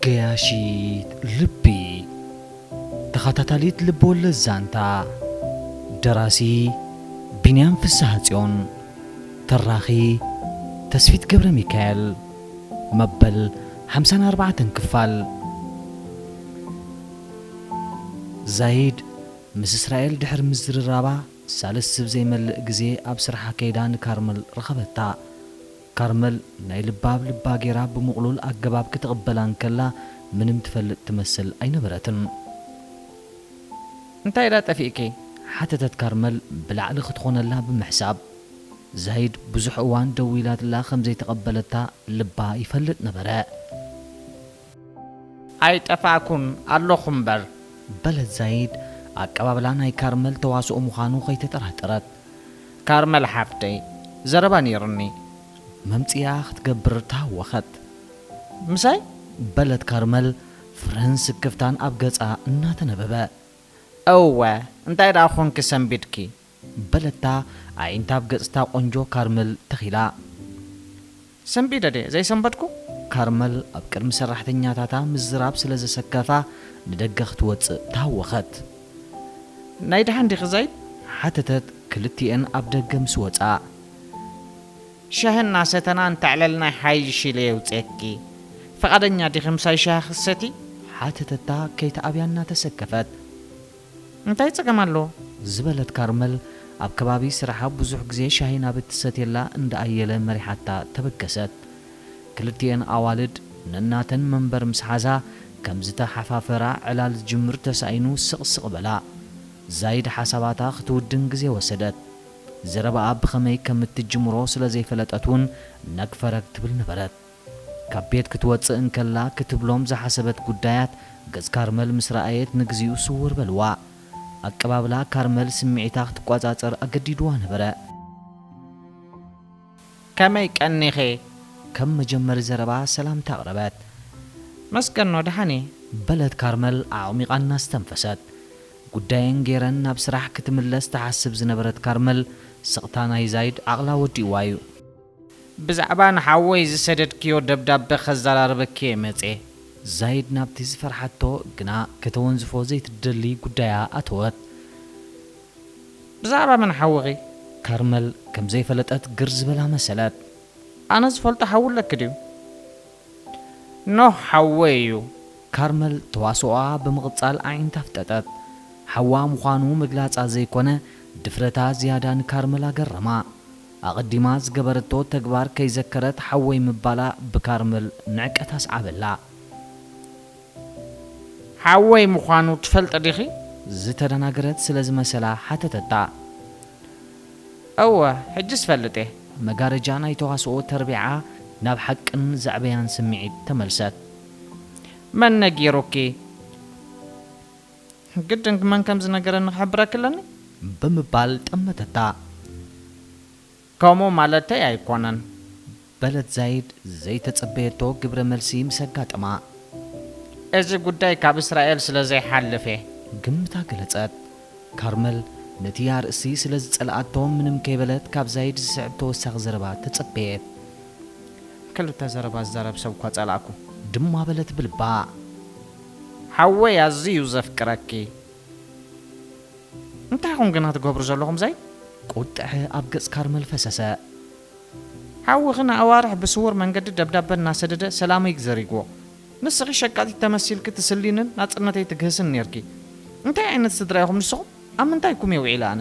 ገያሺት ልቢ ተኻታታሊት ልብወለድ ዛንታ ደራሲ ቢንያም ፍስሃጽዮን ተራኺ ተስፊት ገብረሚካኤል መበል ሓምሳን ኣርባዕተን ክፋል ዛይድ ምስ እስራኤል ድሕሪ ምዝርራባ ሳልስ ዝብ ዘይመልእ ግዜ ኣብ ስራሓ ከይዳ ንካርመል ረኸበታ። ካርመል ናይ ልባ ኣብ ልባ ጌራ ብምቕሉል ኣገባብ ክትቕበላ እንከላ ምንም ትፈልጥ ትመስል ኣይነበረትን። እንታይ ድኣ ጠፊእኪ? ሓተተት ካርመል ብላዕሊ ክትኾነላ ብምሕሳብ። ዛይድ ብዙሕ እዋን ደዊላትላ ከም ዘይተቐበለታ ልባ ይፈልጥ ነበረ። ኣይጠፋእኩም ኣለኹ እምበር። በለት ዛይድ ኣቀባብላ ናይ ካርመል ተዋስኦ ምዃኑ ከይተጠራጠረት። ካርመል ሓፍተይ ዘረባ ነይሩኒ። መምጽኢኣ ክትገብር ተሃወኸት። ምሳይ? በለት ካርመል ፍርህን ስክፍታን ኣብ ገጻ እናተነበበ። እወ እንታይ ደኣ ኰንኪ ሰንቢድኪ? በለታ ኣዒንታ ኣብ ገጽ'ታ ቆንጆ ካርመል ተኺላ። ሰንቢደ ድየ ዘይሰንበድኩ? ካርመል ኣብ ቅድሚ ሰራሕተኛታታ ምዝራብ ስለ ዘሰከፋ ንደገ ክትወጽእ ተሃወኸት። ናይ ደሓን ዲኺ ዘይድ? ሓተተት ክልቲኤን ኣብ ደገ ምስ ወጻ። ሻሂ እናሰተና እንተዕለልና ይሓይሽ ኢለ የውጽየኪ። ፍቓደኛ ዲኺ ምሳይ ሻሂ ክትሰትዪ? ሓተተታ ከይትኣብያ እናተሰከፈት። እንታይ ጸገም ኣለዎ? ዝበለት ካርመል፣ ኣብ ከባቢ ስራሓ ብዙሕ ግዜ ሻሂ ናብ እትሰትየላ እንዳ ኣየለ መሪሓታ ተበገሰት። ክልቲኤን ኣዋልድ ነናተን መንበር ምስ ሓዛ ከም ዝተሓፋፈራ ዕላል ዝጅምር ተሳኢኑ ስቕ ስቕ በላ። ዛይድ ሓሳባታ ክትውድን ግዜ ወሰደት። ዘረባኣ ብኸመይ ከም እትጅምሮ ስለ ዘይፈለጠት እውን ነግ ፈረግ ትብል ነበረት። ካብ ቤት ክትወጽእ እንከላ ክትብሎም ዝሓሰበት ጉዳያት ገጽ ካርመል ምስ ረኣየት ንግዚኡ ስውር በልዋ። ኣቀባብላ ካርመል ስምዒታ ክትቆጻጸር ኣገዲድዋ ነበረ። ከመይ ቀኒኺ? ከም መጀመሪ ዘረባ ሰላምታ ኣቕረበት። መስገኖ ደሓን እየ። በለት ካርመል ኣዕሚቓ እናስተንፈሰት። ጉዳየን ገይረን ናብ ስራሕ ክትምለስ ትሓስብ ዝነበረት ካርመል ስቕታ ናይ ዛይድ ዓቕላ ወዲእዋ እዩ። ብዛዕባ ንሓወይ ዝሰደድክዮ ደብዳበ ከዘራርበኪ'የ መጼ። ዛይድ ናብቲ ዝፈርሓቶ ግና ከተወንዝፎ ዘይትደሊ ጉዳያ ኣተወት። ብዛዕባ መን ሓውኺ? ካርመል ከም ዘይፈለጠት ግር ዝበላ መሰለት። ኣነ ዝፈልጦ ሓዊ ኣለኪ ድዩ? ኖህ ሓወይ እዩ። ካርመል ተዋስኦኣ ብምቕጻል ኣዒንታ ኣፍጠጠት። ሓዋ ምዃኑ ምግላጻ ዘይኮነ ድፍረታ ዝያዳ ንካርመል ኣገረማ። ኣቐዲማ ዝገበረቶ ተግባር ከይዘከረት ሓወይ ምባላ ብካርመል ንዕቀት ኣስዓበላ። ሓወይ ምዃኑ ትፈልጢ ዲኺ? ዝተደናገረት ስለ ዝመሰላ ሓተተታ። እወ፣ ሕጂስ እፈልጥ'የ። መጋረጃ ናይ ተዋስኦ ተርቢዓ ናብ ሓቅን ዘዕበያን ስምዒት ተመልሰት። መን ነጊሩኪ? ግድን መን ከም ዝነገረኒ ክሕብረኪ ኣለኒ። ብምባል ጠመተታ። ከምኡ ማለተይ ኣይኰነን። በለት ዛይድ ዘይተጸበየቶ ግብረ መልሲ ምስ ኣጋጠማ። እዚ ጕዳይ ካብ እስራኤል ስለ ዘይሓልፍ እየ። ግምታ ገለጸት። ካርመል ነቲ ኣርእስቲ ስለ ዝጸልኣቶ ምንም ከይበለት ካብ ዛይድ ዝስዕብ ተወሳኺ ዘረባ ተጸበየት። ክልተ ዘረባ ዝዛረብ ሰብ'ኳ ጸላእኩ። ድማ በለት ብልባ። ሓወይ ኣዝዩ ዘፍቅረኪ እንታይ ኹም ግና ትገብሩ ዘለኹም ዘይ። ቁጥዐ ኣብ ገጽ ካርመል ፈሰሰ። ሓውኺ ንኣዋርሕ ብስዉር መንገዲ ደብዳበ እናሰደደ ሰላመይ ዘሪግዎ። ንስኺ ሸቃጢት ተመሲልኪ ትስሊንን ናጽነተይ ትግህስን ኔርኪ። እንታይ ዓይነት ስድራ ኢኹም ንስኹም? ኣብ ምንታይኩም እየ ውዒለ ኣነ?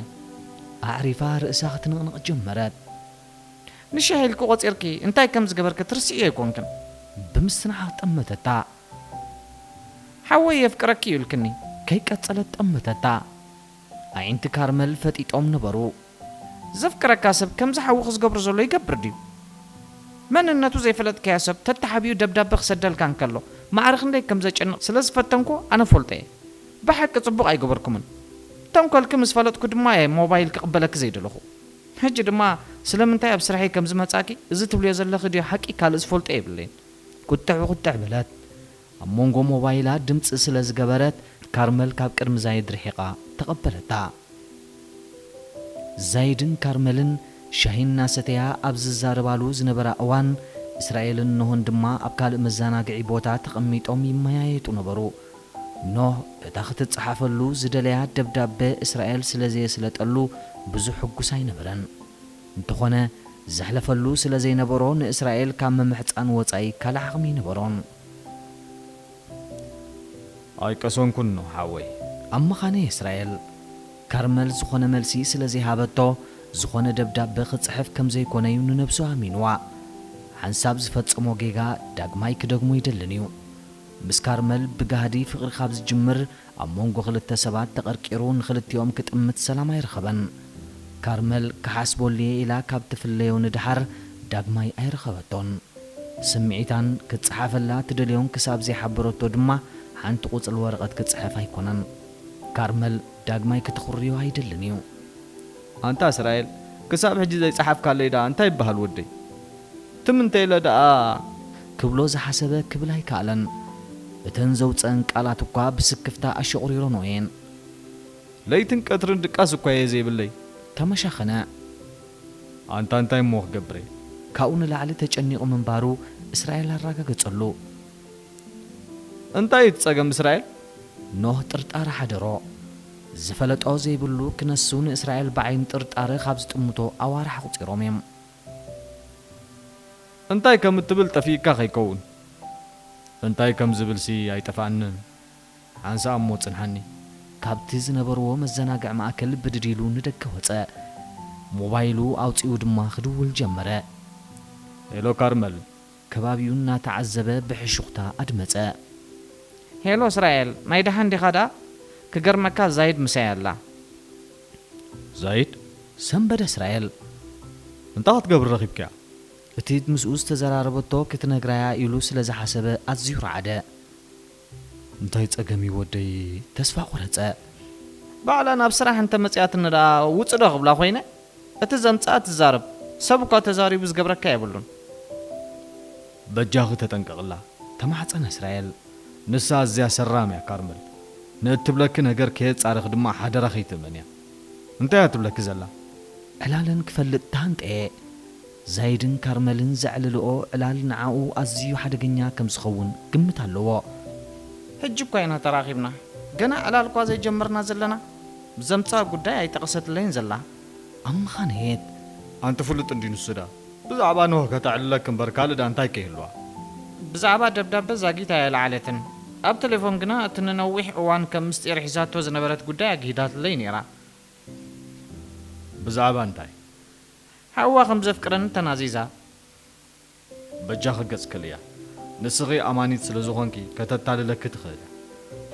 ኣዕሪፋ ርእሳ ክትንቕንቕ ጀመረት። ንሻሂ ኢልኪ ቆጺርኪ እንታይ ከም ዝገበርኪ ትርስዕዮ ኣይኮንክን? ብምስትንዓቕ ጠመተታ። ሓወይ የፍቅረኪ እዩ ኢልክኒ። ከይቀጸለት ጠመተታ። ኣዒንቲ ካርመል ፈጢጦም ነበሩ። ዘፍቅረካ ሰብ ከምዚ ሓውኺ ዝገብሮ ዘሎ ይገብር ድዩ? መንነቱ ዘይፈለጥካዮ ሰብ ተተሓቢኡ ደብዳበ ክሰደልካ እንከሎ ማዕረ ክንደይ ከም ዘጨንቕ ስለ ዝፈተንኩ ኣነ እፈልጦ እየ። ብሓቂ ጽቡቕ ኣይገበርኩምን። ተንኮልኪ ምስ ፈለጥኩ ድማ እየ ሞባይል ክቕበለኪ ዘይደለኹ። ሕጂ ድማ ስለምንታይ ኣብ ስርሐይ ከም ዝመጻእኪ እዚ ትብልዮ ዘለኺ ድዩ ሓቂ ካልእ ዝፈልጦ የብለይን። ቁጥዕ ቁጥዕ በለት። ኣብ መንጎ ሞባይላ ድምጺ ስለ ዝገበረት ካርመል ካብ ቅድሚ ዛይድ ርሒቓ ተቐበለታ። ዛይድን ካርመልን ሻሂ እናሰተያ ኣብ ዝዛረባሉ ዝነበራ እዋን፣ እስራኤልን ኖህን ድማ ኣብ ካልእ መዘናግዒ ቦታ ተቐሚጦም ይመያየጡ ነበሩ። ኖህ በታ ክትጸሓፈሉ ዝደለያ ደብዳበ እስራኤል ስለ ዘየስለጠሉ ብዙሕ ሕጉስ ኣይነበረን። እንተኾነ ዘሕለፈሉ ስለ ዘይነበሮ ንእስራኤል ካብ ምምሕጻን ወጻኢ ካልእ ዓቕሚ ኣይነበሮን። ኣይቀሰንኩን ኖህ ሓወይ ኣብ መኻነ እስራኤል። ካርመል ዝኾነ መልሲ ስለ ዘይሃበቶ ዝኾነ ደብዳበ ክጽሕፍ ከም ዘይኮነ'ዩ ንነብሱ ኣሚንዋ። ሓንሳብ ዝፈጸሞ ጌጋ ዳግማይ ክደግሞ ኣይደልን እዩ። ምስ ካርመል ብጋህዲ ፍቕሪ ካብ ዝጅምር ኣብ መንጎ ክልተ ሰባት ተቐርቂሩ ንኽልቲኦም ክጥምት ሰላም ኣይረኸበን። ካርመል ክሓስበሉ'የ ኢላ ካብ ትፍለዮ ንደሓር ዳግማይ ኣይረኸበቶን። ስምዒታን ክጸሓፈላ እትደልዮን ክሳብ ዘይሓበረቶ ድማ ሓንቲ ቁጽሊ ወረቐት ክጽሕፍ ኣይኮነን። ካርመል ዳግማይ ክትኹርዮ ኣይደልን እዩ። ኣንታ እስራኤል ክሳብ ሕጂ ዘይጸሓፍካለይ ደኣ እንታይ ይበሃል ወደይ ትም እንተ ኢለ ደኣ። ክብሎ ዝሓሰበ ክብል ኣይከኣለን። እተን ዘውጸኣን ቃላት እኳ ብስክፍታ ኣሸቑሪረንኦ እየን። ለይትን ቀትርን ድቃስ እኳ እየ ዘይብለይ። ተመሻኸነ። ኣንታ እንታይ እሞ ክገብር እየ። ካብኡ ንላዕሊ ተጨኒቑ ምንባሩ እስራኤል ኣራጋገጸሉ። እንታይ እዩ እቲ ጸገም እስራኤል? ኖህ ጥርጣረ ሓደሮ። ዝፈለጦ ዘይብሉ ክነሱ ንእስራኤል ብዓይኒ ጥርጣረ ካብ ዝጥምቶ ኣዋርሕ ኣቑጺሮም እዮም። እንታይ ከም እትብል ጠፊእካ ከይከውን። እንታይ ከም ዝብልሲ ኣይጠፍኣንን። ሓንሳእ እሞ ጽንሓኒ። ካብቲ ዝነበርዎ መዘናግዒ ማእከል ብድድ ኢሉ ንደገ ወጸ። ሞባይሉ ኣውጺኡ ድማ ክድውል ጀመረ። ሄሎ ካርመል። ከባቢኡ እናተዓዘበ ብሕሹኽታ ኣድመጸ። ሄሎ እስራኤል፣ ናይ ደሓን ዲኻ ደኣ? ክገርመካ ዛይድ ምሳይ ኣላ። ዛይድ? ሰምበደ እስራኤል። እንታይ ክትገብሪ ረኺብክያ? እቲ ምስኡ ዝተዘራረበቶ ክትነግራ'ያ ኢሉ ስለ ዝሓሰበ ኣዝዩ ረዓደ። እንታይ ጸገም እዩ ወደይ ተስፋ ቆረጸ። ባዕላ ናብ ስራሕ እንተ መጺኣትኒ ደኣ ውጽእ ዶ ክብላ ኮይነ እቲ ዘምጽኣ ትዛረብ ሰብ እኳ ተዛሪቡ ዝገብረካ የብሉን። በጃኺ ተጠንቀቕላ ተማሕጸነ እስራኤል ንሳ ኣዝያ ሰራም እያ ካርመል ንእትብለኪ ነገር ከየጻረኺ ድማ ሓደራ ከይትእመንያ እንታይ እያ ትብለኪ ዘላ ዕላለን ክፈልጥ ተሃንጠየ። ዛይድን ካርመልን ዘዕልልኦ ዕላል ንዓኡ ኣዝዩ ሓደገኛ ከም ዝኸውን ግምት ኣለዎ። ሕጂ እኳ ኢና ተራኺብና፣ ገና ዕላል እኳ ዘይጀመርና ዘለና፣ ብዘምጽኣ ጉዳይ ኣይጠቐሰትለይን ዘላ። ኣብ መኻንየት። ኣንቲ ፍሉጥ እንድዩ ንሱ ድኣ ብዛዕባ ኖህ ከተዕልለኪ እምበር ካልእ ድኣ እንታይ ከይህልዋ። ብዛዕባ ደብዳበ ዛጊት ኣየልዓለትን፣ ኣብ ተሌፎን ግና እቲ ንነዊሕ እዋን ከም ምስጢር ሒዛቶ ዝነበረት ጉዳይ ኣግሂዳትለይ ነይራ። ብዛዕባ እንታይ? ሓዋ ከም ዘፍቅረኒ ተናዚዛ በጃኺ ገጽ ክእልያ ንስኺ ኣማኒት ስለ ዝኾንኪ ከተታልለኪ ትኽእል እያ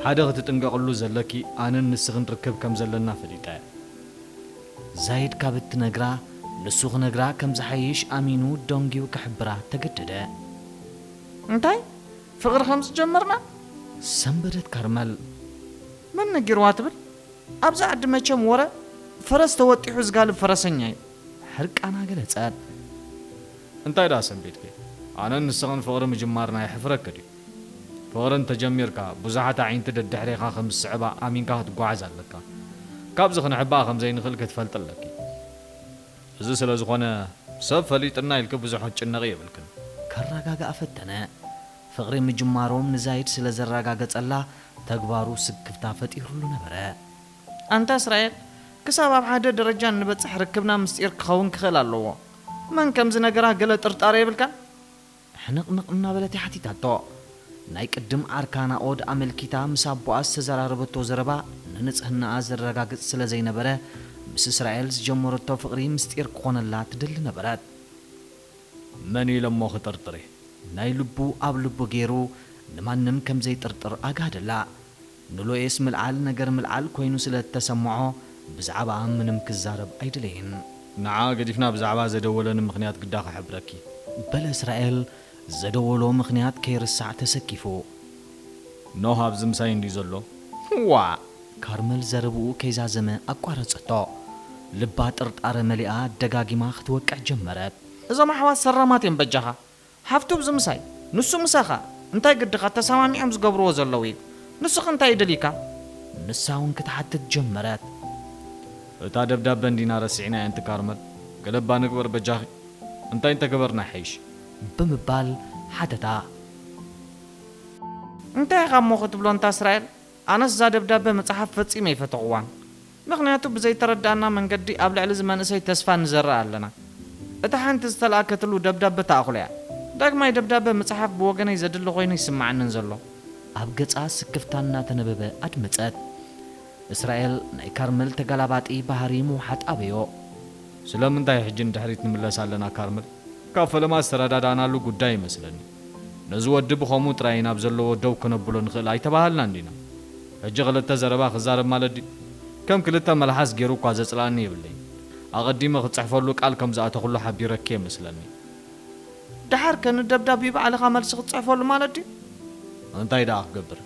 ሓደ ክትጥንቀቅሉ ዘለኪ ኣነን ንስኽን ርክብ ከም ዘለና ፈሊጣ እያ ዛይድ ካብ እትነግራ ንሱ ክነግራ ከም ዝሓይሽ ኣሚኑ ደንጊዩ ክሕብራ ተገደደ። እንታይ ፍቅሪ ከም ዝጀመርና? ሰንበደት ካርመል። መን ነጊርዋ ትብል ኣብዚ ዓዲ መቸም ወረ ፈረስ ተወጢሑ ዝጋልብ ፈረሰኛ እዩ። ሕርቃና ገለጸት። እንታይ ደኣ ሰንቢድኪ ኣነን ንስኽን ፍቕሪ ምጅማርና የሕፍረኪ ድዩ? ፍቕሪ እንተ ጀሚርካ ብዙሓት ኣዒንቲ ደድሕሬኻ ከም ዝስዕባ ኣሚንካ ክትጓዓዝ ኣለካ። ካብዚ ክንሕባእ ከም ዘይንኽእል ክትፈልጢ ኣለኪ። እዚ ስለ ዝኾነ ሰብ ፈሊጥና ኢልኪ ብዙሕ ክትጭነቒ የብልክን። ከረጋግኣ ፈተነ። ፍቕሪ ምጅማሮም ንዛይድ ስለ ዘረጋገጸላ ተግባሩ ስክፍታ ፈጢሩሉ ነበረ። ኣንታ እስራኤል፣ ክሳብ ኣብ ሓደ ደረጃ እንበጽሕ ርክብና ምስጢር ክኸውን ክኽእል ኣለዎ። መን ከም ዝነገራ ገለ ጥርጣረ የብልካን? ሕንቕንቕ እናበለት እያ ሓቲታቶ። ናይ ቅድም ዓርካ ናኦድ ኣመልኪታ ምስ ኣቦኣ ዝተዘራረበቶ ዘረባ ንንጽህናኣ ዘረጋግጽ ስለ ዘይነበረ፣ ምስ እስራኤል ዝጀመረቶ ፍቕሪ ምስጢር ክኾነላ ትደሊ ነበረት። መንዩ ኢሎሞ ክጥርጥር ናይ ልቡ ኣብ ልቡ ጌሩ ንማንም ከም ዘይጥርጥር ኣጋህደላ ንሎኤስ ምልዓል ነገር ምልዓል ኮይኑ ስለ እተሰምዖ ብዛዕባኣ ምንም ክዛረብ ኣይደለየን። ንዓ ገዲፍና ብዛዕባ ዘደወለኒ ምኽንያት ግዳ ክሕብረኪ። በለ እስራኤል ዘደወሎ ምኽንያት ከይርሳዕ ተሰኪፉ። ኖህ ኣብዚ ምሳይ እንድዩ ዘሎ ዋእ። ካርመል ዘረብኡ ከይዛዘመ ኣቋረጸቶ። ልባ ጥርጣረ መሊኣ ደጋጊማ ክትወቅዕ ጀመረት። እዞም ኣሕዋት ሰራማት እዮም በጃኻ። ሃፍቱ ኣብዚ ምሳይ ንሱ ምሳኻ እንታይ ግድኻ ተሳማሚዖም ዝገብርዎ ዘለዉ እዩ። ንሱኸ እንታይ እዩ ደልዩካ? ንሳውን ክትሓትት ጀመረት። እታ ደብዳበ እንዲና ረሲዕናያ ኣንቲ ካርመል ገለ እባ ንግበር በጃኺ። እንታይ እንተገበርና ይሓይሽ? ብምባል ሓተታ። እንታይ ኢኻ እሞ ክትብሎ እንታ እስራኤል ኣነስ እዛ ደብዳበ ምጽሓፍ ፈጺመ ኣይፈተኹዋን ምኽንያቱ ብዘይተረድኣና መንገዲ ኣብ ልዕሊ እዚ መንእሰይ ተስፋ ንዘርእ ኣለና እታ ሓንቲ ዝተላኣከትሉ ደብዳበ ታኣኽሎ እያ ዳግማይ ደብዳበ ምጽሓፍ ብወገነይ ዘድሊ ኮይኑ ኣይስማዓንን ዘሎ ኣብ ገጻ ስክፍታ እናተነበበ ኣድመጸት። እስራኤል ናይ ካርመል ተጋላባጢ ባህሪ ምውሓጥ ኣበዮ። ስለምንታይ ሕጂ ንድሕሪት ንምለስ ኣለና ካርመል ካብ ፈለማ ዝተረዳዳእናሉ ጉዳይ እዩመስለኒ። ነዚ ወዲ ብኸምኡ ጥራይ ናብ ዘለዎ ደው ክነብሎ ንኽእል ኣይተባሃልናን ዲና? ሕጂ ክልተ ዘረባ ክዛረብ ማለት ድዩ? ከም ክልተ መልሓስ ጌሩ እኳ ዘጽልኣኒ የብለይን። ኣቐዲመ ክጽሕፈሉ ቃል ከም ዝኣተኹሉ ሓቢረኪ'የ መስለኒ። ደሓርከ ንደብዳብዩ ባዕልኻ መልሲ ክትጽሕፈሉ ማለት ድዩ? እንታይ ደኣ ክገብር?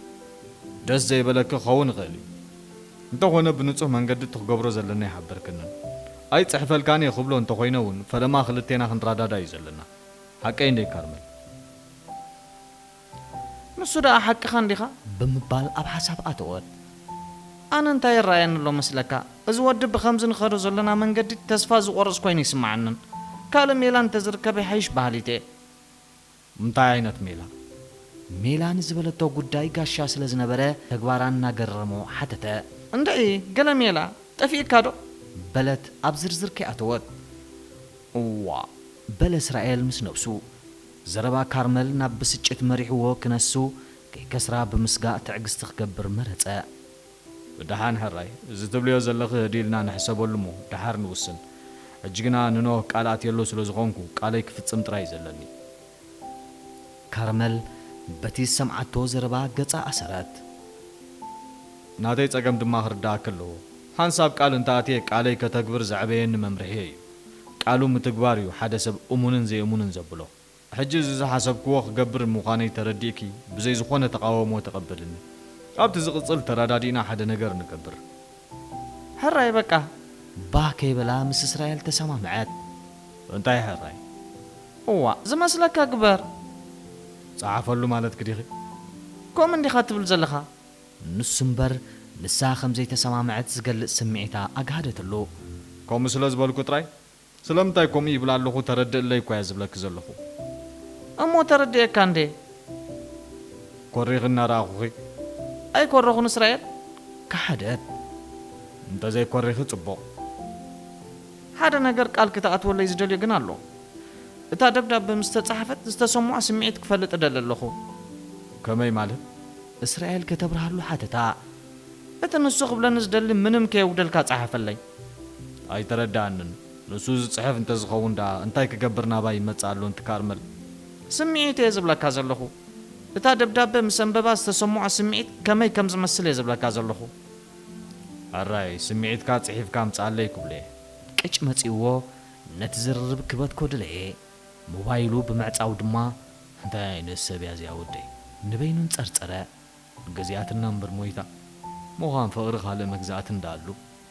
ደስ ዘይበለኪ ክኸውን ይኽእል እዩ። እንተኾነ ብንጹህ መንገዲ እቲ ክገብሮ ዘለኒ ኣይሓበርክንን። ኣይጽሕፈልካን'የ ክብሎ እንተኾይነ'ውን ፈለማ ክልቴና ክንራዳዳ'ዩ ዘለና። ሓቀይ እንዴ ካርመል? ንሱ ደኣ ሓቅኻ እንዲኻ? ብምባል ኣብ ሓሳብ ኣተወት። ኣነ እንታይ ይረኣየኒ ኣሎ መስለካ? እዚ ወዲ ብኸምዚ ንኸዶ ዘሎና መንገዲ ተስፋ ዝቖርጽ ኮይኑ ኣይስመዓንን። ካልእ ሜላ እንተ ዝርከብ ይሓይሽ በሃሊት'የ። እንታይ ዓይነት ሜላ? ሜላ ንዝበለቶ ጉዳይ ጋሻ ስለ ዝነበረ ተግባራ እናገረሞ ሓተተ። እንድዒ ገለ ሜላ ጠፊኡካዶ? በለት ኣብ ዝርዝር ከይኣተወት። እዋእ በለ እስራኤል ምስ ነብሱ። ዘረባ ካርመል ናብ ብስጭት መሪሕዎ ክነሱ ከይከስራ ብምስጋእ ትዕግስቲ ክገብር መረጸ። ብደሓን ሕራይ፣ እዚ ትብልዮ ዘለኺ ህድእ ኢልና ንሕሰበሉ እሞ ደሓር ንውስን። ሕጂ ግና ንኖህ ቃል ኣትየሉ ስለ ዝኾንኩ ቃለይ ክፍጽም ጥራይ እዩ ዘለኒ። ካርመል በቲ ዝሰምዓቶ ዘረባ ገጻ ኣሰረት። ናተይ ጸገም ድማ ክርድኣኪ ኣለዎ። ሓንሳብ ቃል እንተ ኣትየ ቃለይ ከተግብር ዘዕበየኒ መምርሒየይ እዩ። ቃሉ ምትግባር እዩ ሓደ ሰብ እሙንን ዘይእሙንን ዘብሎ። ሕጂ እዚ ዝሓሰብክዎ ክገብር ምዃነይ ተረዲእኪ ብዘይ ዝኾነ ተቓውሞ ተቐበልኒ። ኣብቲ ዝቕጽል ተረዳዲእና ሓደ ነገር ንገብር። ሕራይ በቃ ባህ ከይበላ ምስ እስራኤል ተሰማምዐት። እንታይ ሕራይ? እዋእ ዝመስለካ ግበር። ጸሓፈሉ ማለትኪ ዲኺ? ከምኡ እንዲኻ ትብል ዘለኻ። ንሱ እምበር ንሳ ከም ዘይተሰማምዐት ዝገልጽ ስምዒታ ኣግሃደትሉ። ከምኡ ስለ ዝበልኩ ጥራይ ስለምንታይ ከምኡ ይብል ኣለኹ ተረድእለይ እኳ'የ ዝብለኪ ዘለኹ። እሞ ተረዲኤካ እንድየ። ኮሪኺ እናረኣኹኺ? ኣይኮረኹን እስራኤል። ከሓደት። እንተዘይኮሪኺ ጽቡቕ። ሓደ ነገር ቃል ክትኣትወለይ ዝደልዮ ግን ኣሎ። እታ ደብዳበ ምስ ተጻሓፈት ዝተሰምዖ ስምዒት ክፈልጥ እደሊ ኣለኹ። ከመይ ማለት? እስራኤል ከተብርሃሉ ሓተታ። እቲ ንሱ ክብለኒ ዝደሊ ምንም ከየጉደልካ ጸሓፈለይ። ኣይተረደኣንን። ንሱ ዝጽሕፍ እንተዝኸውን ደኣ እንታይ ክገብር ናባይ ይመጽእ ኣሎ እንትካርመል? ስምዒት እየ ዝብለካ ዘለኹ። እታ ደብዳበ ምስ ኣንበባ ዝተሰምዖ ስምዒት ከመይ ከም ዝመስል እየ ዝብለካ ዘለኹ። ሕራይ ስምዒትካ ጽሒፍካ ኣምጽኣለይ ክብሎ እየ። ቅጭ መጺኡዎ ነቲ ዝርርብ ክበትኮ ደለየ። ሞባይሉ ብምዕጻው ድማ፣ እንታይ ዓይነት ሰብ እያ እዚኣ ወደይ? ንበይኑ እንጸርጸረ። ግዜያትና እምበር ሞይታ። ምዃን ፍቕሪ ካልእ መግዛእቲ እንዳኣሉ።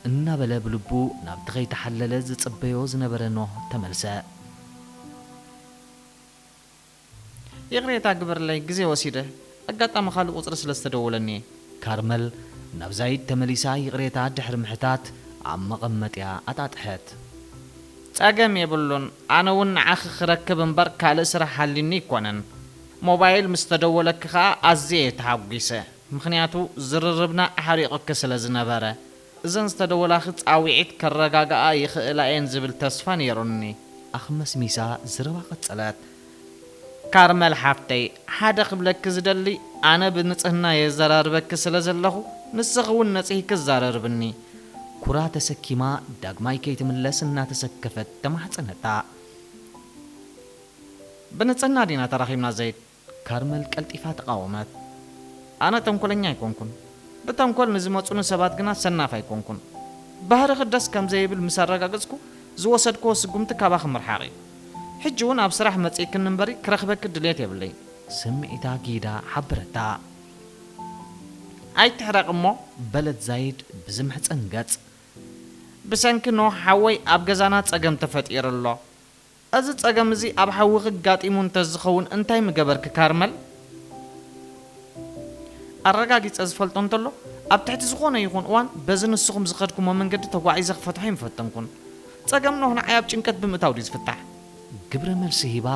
እናበለ ብልቡ ናብቲ ከይተሓለለ ዝጽበዮ ዝነበረ ኖህ ተመልሰ። ይቕሬታ ግበርለይ ግዜ ወሲደ። ኣጋጣሚ ካልእ ቁጽሪ ስለ ዝተደወለኒ እየ። ካርመል ናብ ዛይድ ተመሊሳ ይቕሬታ ድሕሪ ምሕታት ኣብ መቐመጢኣ ኣጣጥሐት። ጸገም የብሉን። ኣነ ውን ንዓኺ ክረክብ እምበር ካልእ ስራሕ ሃልዩኒ ኣይኮነን። ሞባይል ምስ ተደወለኪ ከኣ ኣዝየ እየ ተሃጒሰ። ምኽንያቱ ዝርርብና ኣሕሪቑኪ ስለ ዝነበረ። እዘን ዝተደወላኺ ጻውዒት ከረጋግኣ ይኽእላ እየን ዝብል ተስፋ ነይሩኒ። ኣኽመስሚሳ ዘረባ ቀጸለት። ካርመል ሓፍተይ ሓደ ክብለኪ ዝደሊ ኣነ ብንጽህና የዛራርበኪ ስለ ዘለኹ ንስኺ ውን ነጺህኪ ኣዛርርብኒ። ኩራ ተሰኪማ ዳግማይ ከይትምለስ እናተሰከፈት ተማሕጸነታ። ብንጽህና ዲና ተራኺብና ዘይት? ካርመል ቀልጢፋ ተቓወመት። ኣነ ተንኮለኛ ኣይኮንኩን ብተንኮል ንዝመጹኒ ሰባት ግና ሰናፍ ኣይኮንኩን። ባህርኺ ደስ ከም ዘይብል ምስ ኣረጋገጽኩ ዝወሰድክዎ ስጉምቲ ካባኺ ምርሓቕ እዩ። ሕጂ ውን ኣብ ስራሕ መጺእክኒ እምበሪ ክረኽበኪ ድሌት የብለይን። ስምዒታ ጊዳ ሓበረታ። ኣይትሕረቒ እሞ በለት ዛይድ ብዝምሕጸን ገጽ። ብሰንኪ ኖህ ሓወይ ኣብ ገዛና ጸገም ተፈጢሩ ኣሎ። እዚ ጸገም እዚ ኣብ ሓውኺ ኣጋጢሙ እንተዝኸውን እንታይ ምገበርኪ ካርመል? ኣረጋጊጸ ዝፈልጦ እንተሎ ኣብ ትሕቲ ዝኾነ ይኹን እዋን በዚ ንስኹም ዝኸድኩሞ መንገዲ ተጓዒዘ ክፈትሖ ኣይምፈተንኩን። ጸገም ኖህ ንዓይ ኣብ ጭንቀት ብምእታው ድዩ ዝፍታሕ? ግብረ መልሲ ሂባ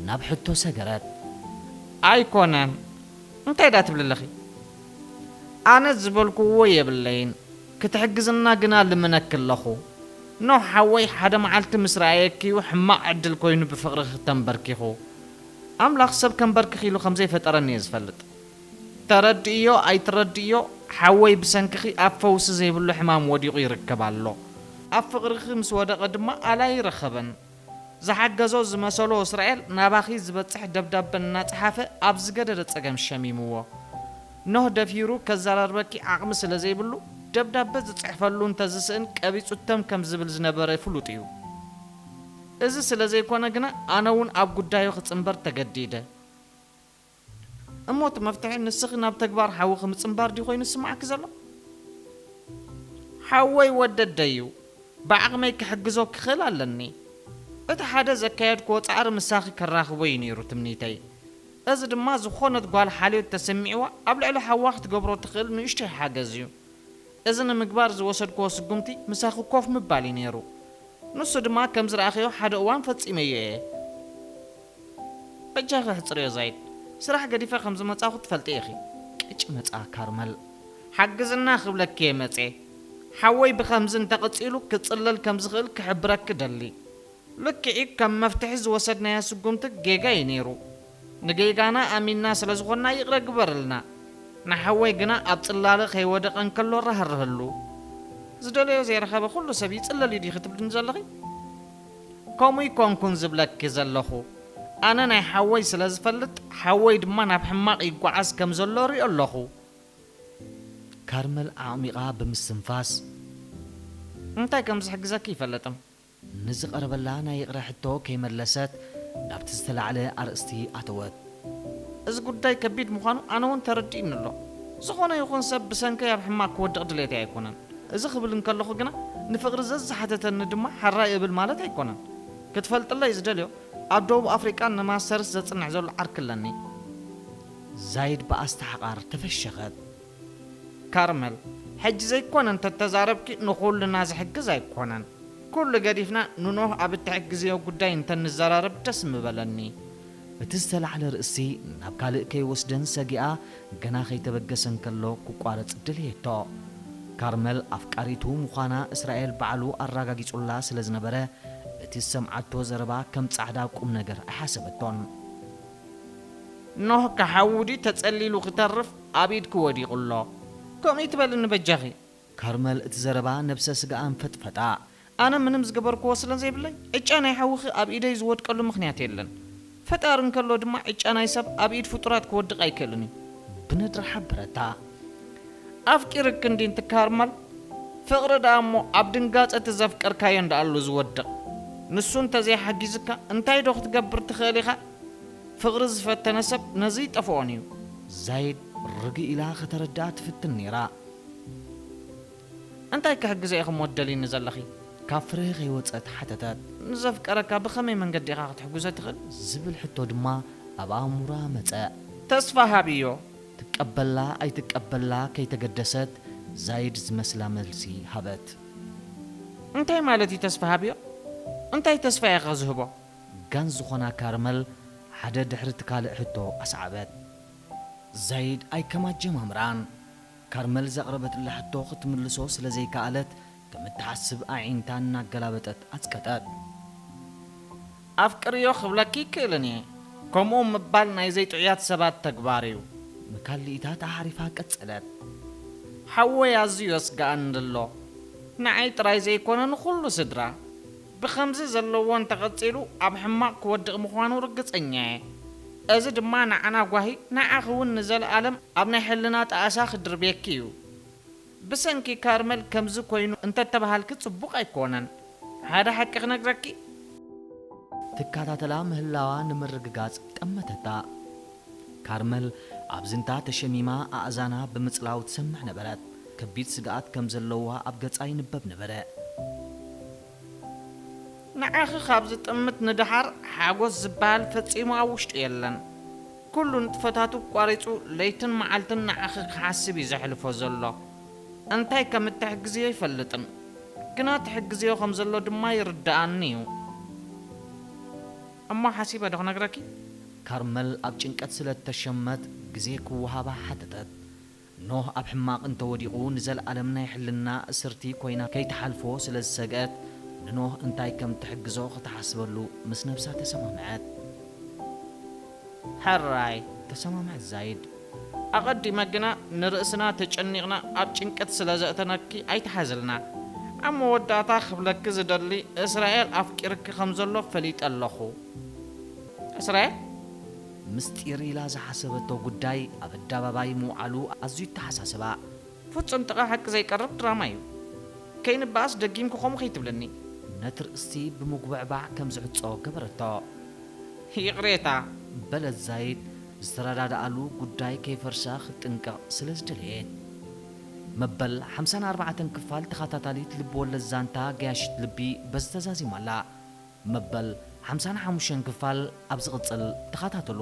ናብ ሕቶ ሰገረት። ኣይኮነን እንታይ ድኣ ትብሊ ኣለኺ ኣነ ዝበልኩዎ የብለይን ክትሕግዝና ግና ልምነኪ ኣለኹ ኖህ ሓወይ ሓደ መዓልቲ ምስ ረኣየኪ'ዩ ሕማቕ ዕድል ኮይኑ ብፍቕርኺ ተንበርኪኹ ኣምላኽ ሰብ ከንበርክኽ ኢሉ ከምዘይፈጠረኒ'የ ዝፈልጥ ተረድእዮ ኣይትረድእዮ ሓወይ ብሰንክኺ ኣብ ፈውሲ ዘይብሉ ሕማም ወዲቑ ይርከብ ኣሎ። ኣብ ፍቕርኺ ምስ ወደቐ ድማ ኣላይረኸበን። ዝሓገዞ ዝመሰሎ እስራኤል ናባኺ ዝበጽሕ ደብዳበ እናጸሓፈ ኣብ ዝገደደ ጸገም ሸሚምዎ። ኖህ ደፊሩ ከዘራርበኪ ዓቕሚ ስለ ዘይብሉ ደብዳበ ዝጽሕፈሉ እንተ ዝስእን ቀቢጹ ተም ከም ዝብል ዝነበረ ፍሉጥ እዩ። እዚ ስለ ዘይኮነ ግና ኣነውን ኣብ ጉዳዩ ክጽንበር ተገዲደ። እሞ እቲ መፍትሒ ንስኺ ናብ ተግባር ሓውኺ ምጽንባር ድዩ ኮይኑ ዝስምዓኪ ዘሎ? ሓወይ ወደደይ'ዩ፣ ብዓቕመይ ክሕግዞ ክኽእል ኣለኒ። እቲ ሓደ ዘካየድክዎ ጻዕሪ ምሳኺ ከራኽቦ'ዩ ነይሩ ትምኒተይ። እዚ ድማ ዝኾነት ጓል ሓልዮት ተሰሚዕዋ ኣብ ልዕሊ ሓዋ ክትገብሮ ትኽእል ንእሽቶይ ሓገዝ'ዩ። እዚ ንምግባር ዝወሰድክዎ ስጉምቲ ምሳኺ ኮፍ ምባል'ዩ ነይሩ። ንሱ ድማ ከም ዝረኣኽዮ ሓደ እዋን ፈጺመዮ እየ። በጃኺ ኣሕጽርዮ ዛይድ ስራሕ ገዲፈ ከም ዝመጻኹ ትፈልጢ ኢኺ። ቅጭ መጽኣ ካርመል። ሓግዝና ክብለኪ'የ መጽየ። ሓወይ ብኸምዚ እንተቐጺሉ ክጽለል ከም ዝኽእል ክሕብረኪ እደሊ። ልክዕ'ዩ ከም መፍትሒ ዝወሰድናዮ ስጉምቲ ጌጋ'ዩ ነይሩ። ንጌጋና ኣሚንና ስለ ዝኾንና ይቕረ ግበርልና። ንሓወይ ግና ኣብ ጽላለ ከይወደቐ እንከሎ ራህርህሉ። ዝደለዮ ዘይረኸበ ኩሉ ሰብ ይጽለል'ዩ ዲኺ ትብልኒ ዘለኺ? ከምኡ ኣይኮንኩን ዝብለኪ ዘለኹ ኣነ ናይ ሓወይ ስለ ዝፈልጥ ሓወይ ድማ ናብ ሕማቕ ይጓዓዝ ከም ዘሎ እሪኦ ኣለኹ። ካርመል ኣዕሚቓ ብምስትንፋስ። እንታይ ከም ዝሕግዘኪ ኣይፈልጥን። ንዝቐረበላ ናይ ይቕረ ሕቶ ከይመለሰት ናብቲ ዝተላዕለ ኣርእስቲ ኣተወት። እዚ ጉዳይ ከቢድ ምዃኑ ኣነ ውን ተረዲኡኒ ኣሎ። ዝኾነ ይኹን ሰብ ብሰንከይ ኣብ ሕማቕ ክወድቕ ድሌተይ ኣይኮነን። እዚ ክብል እንከለኹ ግና ንፍቕሪ ዘዝሓተተኒ ድማ ሐራይ እብል ማለት ኣይኮነን። ክትፈልጥለይ ዝደልዮ ኣብ ደቡብ ኣፍሪቃ ንማስተርስ ዘጽንዕ ዘሎ ዓርኪ ኣለኒ። ዛይድ ብኣስተሓቓር ተፈሸኸት። ካርመል፣ ሕጂ ዘይኮነ እንተ ተዛረብኪ ንኹልና ዝሕግዝ ኣይኮነን። ኩሉ ገዲፍና ንኖህ ኣብ እትሕግዝዮ ጉዳይ እንተ ንዘራረብ ደስ ምበለኒ። እቲ ዝተላዕለ ርእሲ ናብ ካልእ ከይወስደን ሰጊኣ ገና ከይተበገሰ እንከሎ ክቋረጽ ደለየቶ። ካርመል ኣፍቃሪቱ ምዃና እስራኤል ባዕሉ ኣራጋጊጹላ ስለ ዝነበረ እቲ ዝሰምዓቶ ዘረባ ከም ጻዕዳ ቁምነገር ኣይሓሰበቶን። ኖህ ክሓዊ ድዩ ተጸሊሉ ክተርፍ ኣብ ኢድኪ ወዲቑ ኣሎ ከምኡ ኣይትበልኒ በጃኺ። ካርመል እቲ ዘረባ ነብሰ ስጋኣ ኣንፈጥፈጣ። ኣነ ምንም ዝገበርክዎ ስለዘይብለይ ዕጫ ናይ ሓውኺ ኣብ ኢደይ ዝወድቀሉ ምኽንያት የለን። ፈጣሪ እንከሎ ድማ ዕጫ ናይ ሰብ ኣብ ኢድ ፍጡራት ክወድቕ ኣይክእልን እዩ። ብነድሪ ሓበረታ። ኣፍቂርኪ እንዲንቲ ካርመል? ፍቕሪ ደኣ እሞ ኣብ ድንጋጸ እቲ ዘፍቀርካዮን ደኣሉ ዝወድቕ። ንሱ እንተዘይሓጊዙካ እንታይዶ ክትገብር ትኽእል ኢኻ? ፍቕሪ ዝፈተነ ሰብ ነዚ ኣይጠፍኦን እዩ። ዛይድ ርግእ ኢላ ከተረድኣ ትፍትን ነይራ። እንታይ ክሕግዞ ኢኺ እሞ ትደልይኒ ዘለኺ? ካብ ፍርሂ ከይወጸት ሓተተት። ንዘፍቀረካ ብኸመይ መንገዲ ኢኻ ክትሕግዞ ትኽእል? ዝብል ሕቶ ድማ ኣብ ኣእምሮኣ መጸ። ተስፋ ሃብዮ። ትቀበላ ኣይትቀበላ ከይተገደሰት ዛይድ ዝመስላ መልሲ ሃበት። እንታይ ማለት እዩ ተስፋ ሃብዮ? እንታይ ተስፋ እየ ከ ዝህቦ? ጋን ዝኾና ካርመል ሓደ ድሕሪ እቲ ካልእ ሕቶ ኣስዓበት። ዘይድ ኣይ ከም ኣጀማምራን ካርመል ዘቕረበትላ ሕቶ ክትምልሶ ስለ ዘይከኣለት ከም እትሓስብ ኣዒንታ እናገላበጠት ኣጽቀጠት። ኣፍቅርዮ ክብለኪ ኣይክእልን እየ። ከምኡ ምባል ናይ ዘይጥዑያት ሰባት ተግባር እዩ። ንካልኢታት ኣዕሪፋ ቀጸለት። ሓወይ ኣዝዩ የስግኣኒ ኣሎ። ንዓይ ጥራይ ዘይኮነ ንኹሉ ስድራ። ብኸምዚ ዘለዎ እንተቐጺሉ ኣብ ሕማቕ ክወድቕ ምዃኑ ርግጸኛ'የ። እዚ ድማ ንዓና ጓሂ ንዓኺ'ውን ንዘልኣለም ኣብ ናይ ሕልና ጣእሳ ክድርብየኪ'ዩ። ብሰንኪ ካርመል ከምዚ ኮይኑ እንተተባሃልኪ ጽቡቕ ኣይኮነን። ሓደ ሓቂ ክነግረኪ? ትከታተላ ምህላዋ ንምርግጋጽ ጠመተታ። ካርመል ኣብ ዝንታ ተሸሚማ ኣእዛና ብምጽላው ትሰምዕ ነበረት። ከቢድ ስግኣት ከም ዘለዋ ኣብ ገጻ ይንበብ ነበረ። ንዓኺ ካብ ዝጥምት ንደሓር ሓጎስ ዝበሃል ፈጺሙ ኣብ ውሽጡ የለን። ኩሉ ንጥፈታቱ ኣቋሪጹ ለይትን መዓልትን ንዓኺ ክሓስብ እዩ ዘሕልፎ ዘሎ። እንታይ ከም እትሕግዝዮ ኣይፈልጥን። ግና ትሕግዝዮ ከም ዘሎ ድማ ይርድኣኒ እዩ። እሞ ሓሲበ ዶ ክነግረኪ? ካርመል ኣብ ጭንቀት ስለ እተሸመት ግዜ ክወሃባ ሓተተት። ኖህ ኣብ ሕማቕ እንተ ወዲቑ ንዘለኣለም ናይ ሕልና እስርቲ ኰይና ከይትሓልፎ ስለ ዝሰግአት ንኖህ እንታይ ከም እትሕግዞ ኽትሓስበሉ ምስ ነብሳ ተሰማምዐት። ሕራይ! ተሰማምዐት ዛይድ። ኣቐዲመ ግና ንርእስና ተጨኒቕና ኣብ ጭንቀት ስለ ዘእተናኪ ኣይትሓዝልና። ኣብ መወዳእታ ክብለኪ ዝደሊ እስራኤል ኣፍቂርኪ ከም ዘሎ ፈሊጠ ኣለኹ። እስራኤል? ምስጢር ኢላ ዝሓሰበቶ ጉዳይ ኣብ ኣዳባባይ ምውዓሉ ኣዝዩ ኣተሓሳሰባ። ፍጹም ጥቓ ሓቂ ዘይቀርብ ድራማ እዩ። ከይንበኣስ ደጊምኪ ከምኡ ከይትብልኒ። ነቲ ርእሲ ብምጉብዕባዕ ከም ዝዕጾ ገበረቶ። ይቕሬታ! በለት ዛይድ ዝተረዳድኣሉ ጉዳይ ከይፈርሳ ክትጥንቀቕ ስለ ዝደለየት። መበል ሓምሳን ኣርባዕተን ክፋል ተኻታታሊት ልብወለድ ዛንታ ገያሺት ልቢ በዚ ተዛዚማ ኣላ። መበል ሓምሳን ሓሙሽተን ክፋል ኣብ ዝቕጽል ተኻታተሉ።